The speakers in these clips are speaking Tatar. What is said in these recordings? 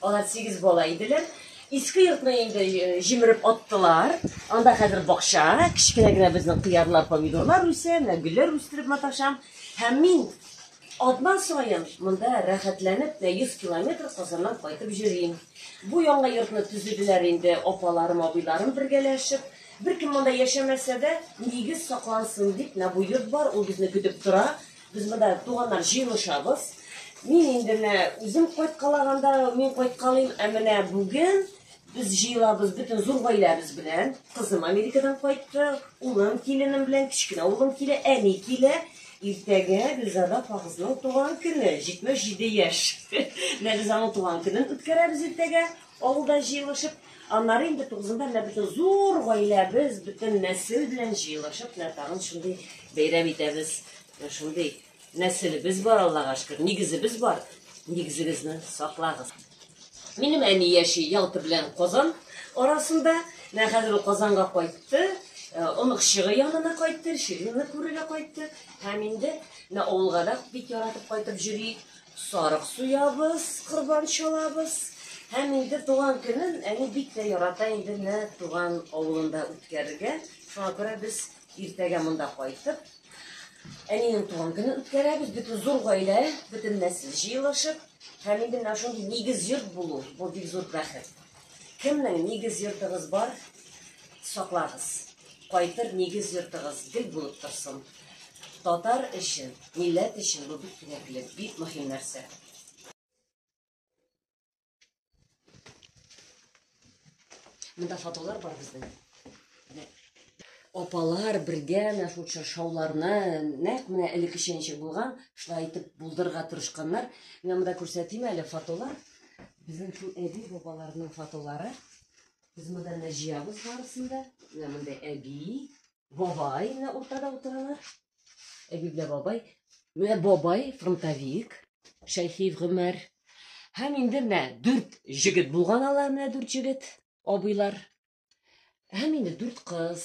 Алар сигез бала иделәр. Иске йортны инде җимереп аттылар. Анда хәзер бакча, кечкенә генә безнең кыярлар, помидорлар үсә, менә гөлләр үстереп маташам. Һәм мин Атна саен монда рәхәтләнеп тә 100 километр Казаннан кайтып йөрим. Бу яңа йортны төзеделәр инде апаларым, абыйларым бергәләшеп. Беркем монда яшәмәсә дә, нигез саклансын дип, менә бу йорт бар, ул безне көтеп тора. Без монда туганнар җыелышабыз. Мин инде менә үзем кайткалаганда мин кайткалыйм, ә менә бүген без җыелабыз бөтен зур гаиләбез белән. Кызым Америкадан кайтты, улым, киленем белән кечкенә улым килә, әни килә. Иртәгә Гөлзада апагызның туган көне, 77 яшь. Менә без аның туган көнен үткәрәбез иртәгә. Авылда җыелышып, аннары инде тугызында менә безнең зур гаиләбез бөтен нәсел белән җыелышып, менә тагын шундый бәйрәм итәбез. Шундый нәселебез бар, Аллага шөкер, нигезебез бар. Нигезегезне саклагыз. Минем әни яши Ялта белән Казан арасында. Менә хәзер ул Казанга кайтты. Оныкчыгы янына кайтты, Ширинны күрергә кайтты. Һәм инде менә авылга да бик яратып кайтып йөри. Сарык суябыз, корбан чалабыз. Һәм инде туган көнен әни бик тә ярата инде менә туган авылында үткәрергә. Шуңа күрә без иртәгә монда кайтып, әнинең туган көнен үткәрәбез. Бөтен зур гаилә, бөтен нәсел җыелышып, һәм инде менә шундый нигез йорт булу, бу бик зур бәхет. Кемнең нигез йортыгыз бар, саклагыз. Кайтыр нигез йортыгыз гел булып торсын. Татар өчен, милләт өчен бу бик кирәкле, бик мөһим нәрсә. Монда фотолар бар безнең. Апалар бергә менә шул чаршауларны нәкъ менә элеккечә ничек булган, шулай итеп булдырырга тырышканнар. Менә монда күрсәтим әле фотолар. Безнең шул әби бабаларның фотолары. Без монда җыябыз барысын да. Менә монда әби, Бабай менә уртада утыралар. Әби белән бабай. Менә бабай фронтовик, Шәйхиев Гомәр. Һәм инде менә дүрт җегет булган алар менә дүрт җегет, абыйлар. Һәм инде дүрт кыз.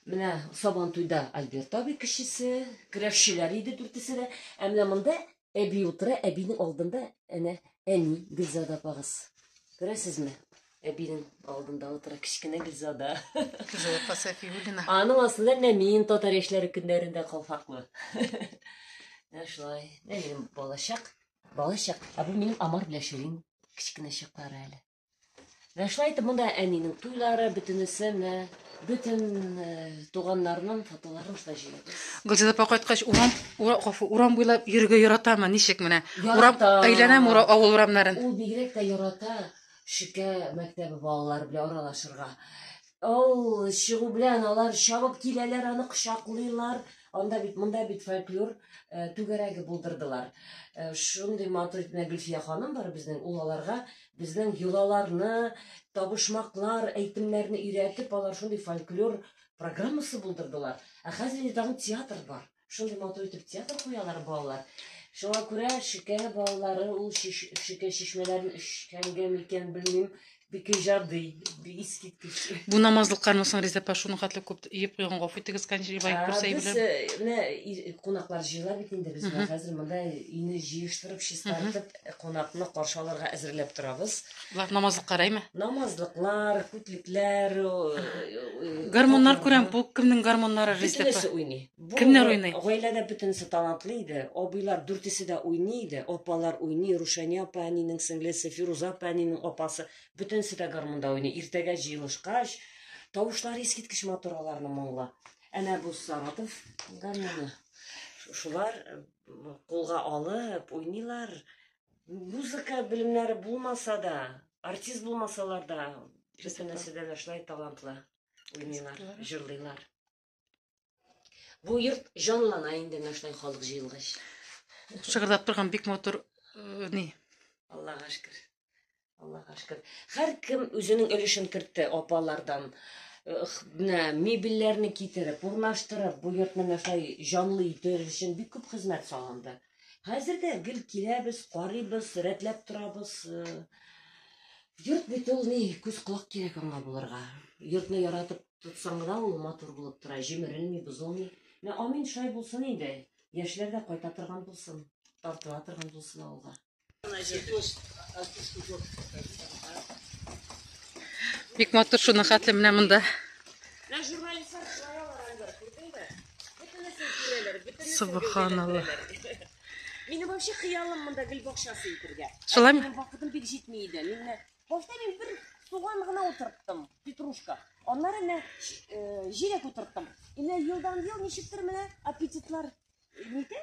Менә Сабантуйда Альберт абый кешесе, көрәшчеләр иде дүртесе дә. Ә менә монда әби утыра, әбинең алдында әнә әни Гөлзада апагыз. Күрәсезме? Әбинең алдында утыра кечкенә Гөлзада. Гөлзада Сафиуллина. Аның астында менә мин татар яшьләре көннәрендә калфаклы. Менә шулай. Менә минем балачак. Балачак. Ә бу минем Амар белән Ширин кечкенә чаклары әле. Менә шулай итеп монда әнинең туйлары, бөтенесе менә бөтен туганнарның фотоларын шулай җыябыз. Гөлзада апа кайткач, урам, гафу, урам буйлап йөрергә яратамы? Ничек менә? Урам әйләнәм ура, авыл урамнарын. Ул бигрәк тә ярата Шикә мәктәбе балалары белән аралашырга. Ул чыгу белән алар чабып киләләр, аны кочаклыйлар. Анда бит, монда бит фольклор э, түгәрәге булдырдылар. Э, шундый матур итенә Гөлфия ханым бар безнең, ул аларга безнең йолаларны, табышмаклар, әйтемнәрне өйрәтеп, алар шундый фольклор программасы булдырдылар. Ә хәзер инде тагын театр бар. Шундый матур итеп театр куялар балалар. Шуңа күрә шикә балалары ул шикә чишмәләрен эчкәнгә микән белмим, бик иҗади, бик искиткеч. Бу намазлыкларны соң Риза Пашуны хәтле күп иеп куйган гафу итегез, Канҗибай күрсәй белән. Без менә кунаклар җыела бит инде без хәзер монда ине җыештырып, чистартып, э, кунакны каршы алырга әзерләп торабыз. Алар намазлык караймы? Намазлыклар, күтлекләр, э, Гармоннар күрәм, бу кемнең гармоннары ризлек? Бөтенесе уйный. Бу Кемнәр уйный? Гаиләдә бөтенесе талантлы иде. Абыйлар дүртесе дә уйный иде. Апалар уйный, Рушания апа әнинең сеңлесе, Фируза апа әнинең апасы. Бөтенесе дә гармонда уйный. Иртәгә җыелышкач, тавышлар искиткеч матур аларның моңлы. Әнә бу Саратов гармоны. Шулар кулга алып уйныйлар. Музыка белемнәре булмаса да, артист булмасалар да, бөтен нәрсәдә дә шулай талантлы уйныйлар, җырлыйлар. Бу йорт җанлана инде менә шулай халык җыелгач. Шыгырдап торган бик матур э, ни. Аллага шөкер. Аллаһка шөкер. Һәркем үзенең өлешен кертте апалардан. Менә мебельләрне китереп, урнаштырып, бу йортны мәсәй җанлы итү өчен бик күп хезмәт салынды. Хәзер дә гел киләбез, карыйбыз, рәтләп торабыз. Йорт бит ул ни, күз колак кирәк аңа булырга. Йортны яратып тотсаң да ул матур булып тора, җимерелми, бозылмый. Менә амин шулай булсын инде. Яшьләр дә кайта торган булсын, тартыла торган булсын авылга. Бик матур шуның хәтле менә монда. Субханалла. Мине вообще хыялым монда гөл бакчасы итергә. Шулай ме? Вакытым бик җитми иде. Мин башта мин бер суган гына утырттым, петрушка. Аннары менә җирәк утырттым. Инде елдан ел ничектер менә аппетитлар нитә?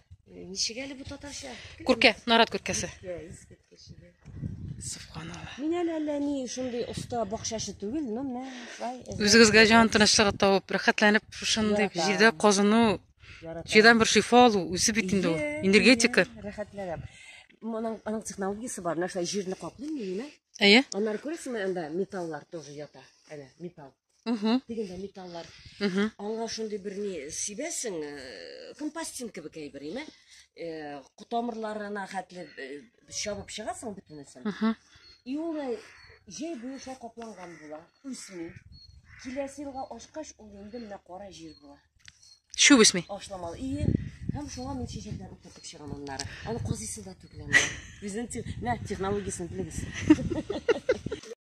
Ничек әле бу татарча? Күркә, нарат күркәсе. Субханалла. Мин әле әллә ни шундый оста бакчачы түгел, но мә, шулай. Үзегезгә җан тынычлыгы табып, рәхәтләнеп шушындый Яратам. җирдә казыну, Яратам. җирдән бер шифа алу, үзе бит инде ул. Иә, Энергетика. иә, Рәхәтләнәм. Моның аның технологиясе бар, нәрсә җирне каплый мени, Әйе. Аннары күрәсеңме, анда металлар тоже ята. Әнә, металл. Угу. Дигендә металлар. Угу. Аңа шундый бер ни сибәсең, э, компостин кебек әйбер, име? Э, Кутамырларына хәтле э, чабып чыгасың бөтенесен. Угу. И ул җәй буе шулай капланган була, үсми. Киләсе елга ашкач, ул инде менә кара җир була. Чүп үсми. Ашламалы. И Һәм шуңа мин чәчәкләр утыртып чыгам аннары. Аны казыйсы да түгеләм. Үзен, нә технологиясен белегез.